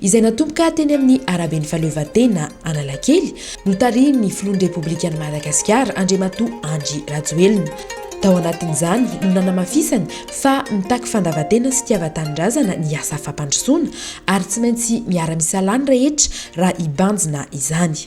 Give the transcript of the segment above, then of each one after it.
izay natomboka teny amin'ny araben'ny Fahaleovantena Analakely, notarihin'ny filohan'ny Repoblikan'i Madagasikara, Andriamatoa Andry Rajoelina. Tao anatin'izany no nanamafisany fa mitaky fandavan-tena sy fitiavan-tanindrazana ny asa fampandrosoana ary tsy maintsy miara-misalahy ny rehetra raha hibanjina izany.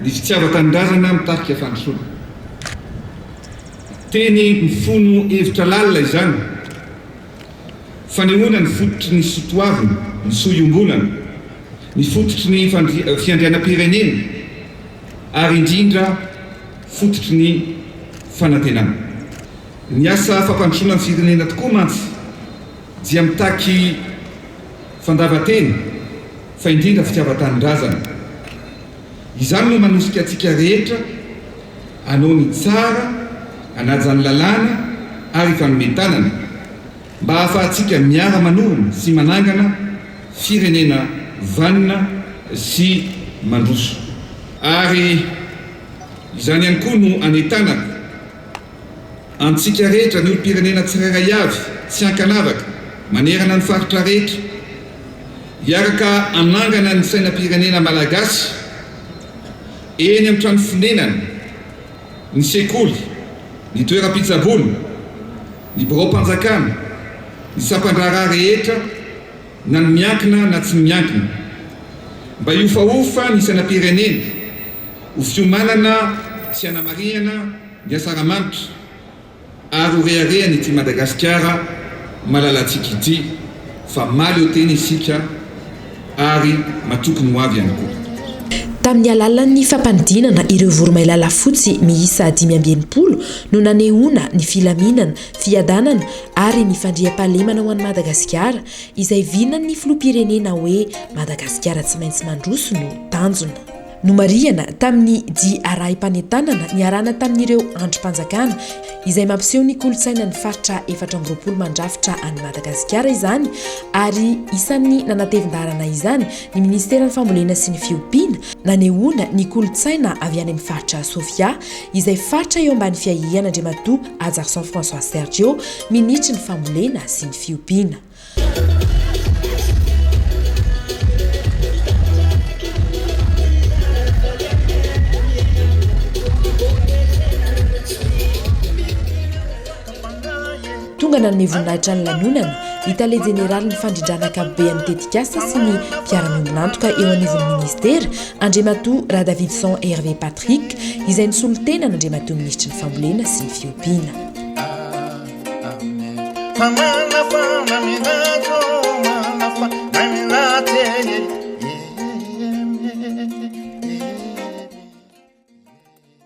Ny fitiavan-tanindrazana mitarika fandrosoana. Teny mifono hevitra lalina izany. Fanehoana ny fototry ny sotoavina, ny soa iombonana, ny fototry ny fiandrianam-pirenena ary indrindra fototry ny fanantenana. Ny asa fampandrosoana ny firenena tokoa mantsy dia mitaky. Fandavan-tena, fa indrindra fitiavan-tanindrazana. Izany no manosika antsika rehetra hanao ny tsara, hanaja ny lalàna ary hifanome tanana, mba hahafahantsika miara-manorina sy manangana firenena vanona sy mandroso. Ary izany ihany koa no anetanako Antsika rehetra, ny olom-pirenena tsirairay avy, tsy ankanavaka, manerana ny faritra rehetra, hiaraka hanangana ny sainam-pirenena malagasy eny amin'ny trano fonenana, ny sekoly, ny toeram-pitsaboana, ny biraom-panjakana, ny sampan-draharaha rehetra na ny miankina na tsy miankina, mba hiofahofa ny sainam-pirenena, ho fiomanana sy hanamarihana ny asaramanitra ary ho reharehany ity Madagasikara malalantsika ity fa mahaleo tena isika ary matoky ny hoavy ihany koa. Tamin'ny alalan'ny fampanidinana ireo voromailala fotsy miisa dimy amby enimpolo no nanehoana ny filaminana Fiadanana ary ny fandriampahalemana ho an'i Madagasikara izay vinan'ny Filoham-pirenena hoe Madagasikara tsy maintsy mandroso no tanjona. Nomarihana tamin'ny dia arahim-panentanana niarahana tamin'ireo andrim-panjakana izay mampiseho ny kolontsainan'ny Faritra efatra amby roapolo mandrafitra an'i Madagasikara izany ary isan'ny nanatevin-daharana izany ny Ministeran'ny Fambolena sy ny Fiompiana nanehoana ny kolontsaina avy any amin'ny Faritra Sofia izay faritra eo ambany fiahian' Andriamatoa Hajarison François Sergio minitry ny famolena sy ny fiompiana. Tonga nanome voninahitra ny lanonana ny tale jeneralin'ny fandrindrana ankapobean'ny tetikasa sy ny mpiara-miombon'antoka eo anivon'ny minisitera, Andriamatoa Radavidson Hervé Patrick, izay nisolo tena an'Andriamatoa Minisitry ny Fambolena sy ny Fiompiana.